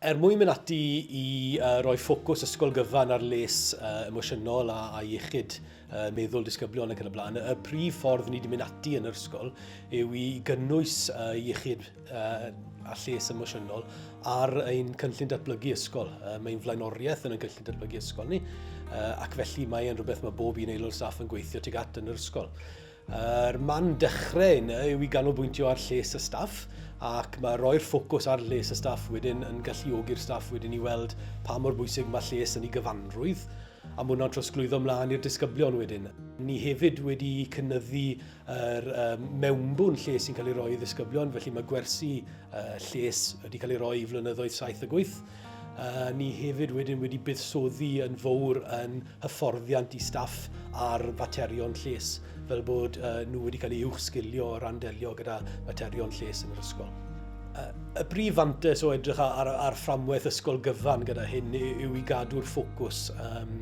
Er mwyn mynd ati i roi ffocws ysgol gyfan ar les emosiynol a iechyd meddwl disgyblion ac yn y blaen, y prif ffordd ni wedi mynd ati yn yr ysgol yw i gynnwys iechyd a lles emosiynol ar ein cynllun datblygu ysgol. Mae'n flaenoriaeth yn y cynllun datblygu ysgol ni ac felly mae'n rhywbeth mae bob un aelod staff yn gweithio tuag at yn yr ysgol. Yr man dechrau yna yw i ganolbwyntio ar lles y staff ac mae rhoi'r ffocws ar lles y staff wedyn yn galluogi'r staff wedyn i weld pa mor bwysig mae lles yn ei gyfanrwydd a mae hwnna'n trosglwyddo mlaen i'r disgyblion wedyn. Ni hefyd wedi cynyddu yr mewnbwn lles sy'n cael ei roi i ddisgyblion felly mae gwersi lles wedi cael ei roi i flynyddoedd saith a gwyth. Uh, ni hefyd wedyn wedi buddsoddi yn fawr yn hyfforddiant i staff ar faterion lles, fel bod uh, nhw wedi cael ei uwchsgilio o ran delio gyda faterion lles yn yr ysgol. Uh, y brif fantes o edrych ar, ar fframwaith ysgol gyfan gyda hyn yw i gadw'r ffocws. Um,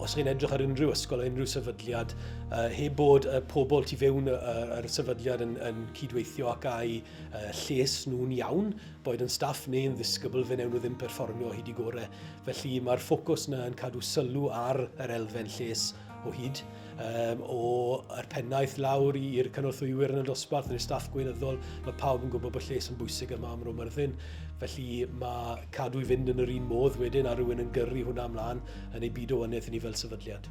os chi'n edrych ar unrhyw ysgol, unrhyw sefydliad, uh, heb bod y pobl tu fewn yr sefydliad yn, yn cydweithio ac a'u uh, lles nhw'n iawn, boed yn staff neu'n ddisgybl fe newn nhw ddim perfformio o hyd i gore. Felly mae'r ffocws yna yn cadw sylw ar yr elfen lles o hyd, um, o'r pennaeth lawr i'r cynorthwywyr yn y dosbarth, yn y staff gweinyddol, mae pawb yn gwybod bod lles yn bwysig yma am Roma Myrddin. Felly mae cadw i fynd yn yr un modd wedyn a rhywun yn gyrru hwnna ymlaen yn ei byd o wynedd i ni fel sefydliad.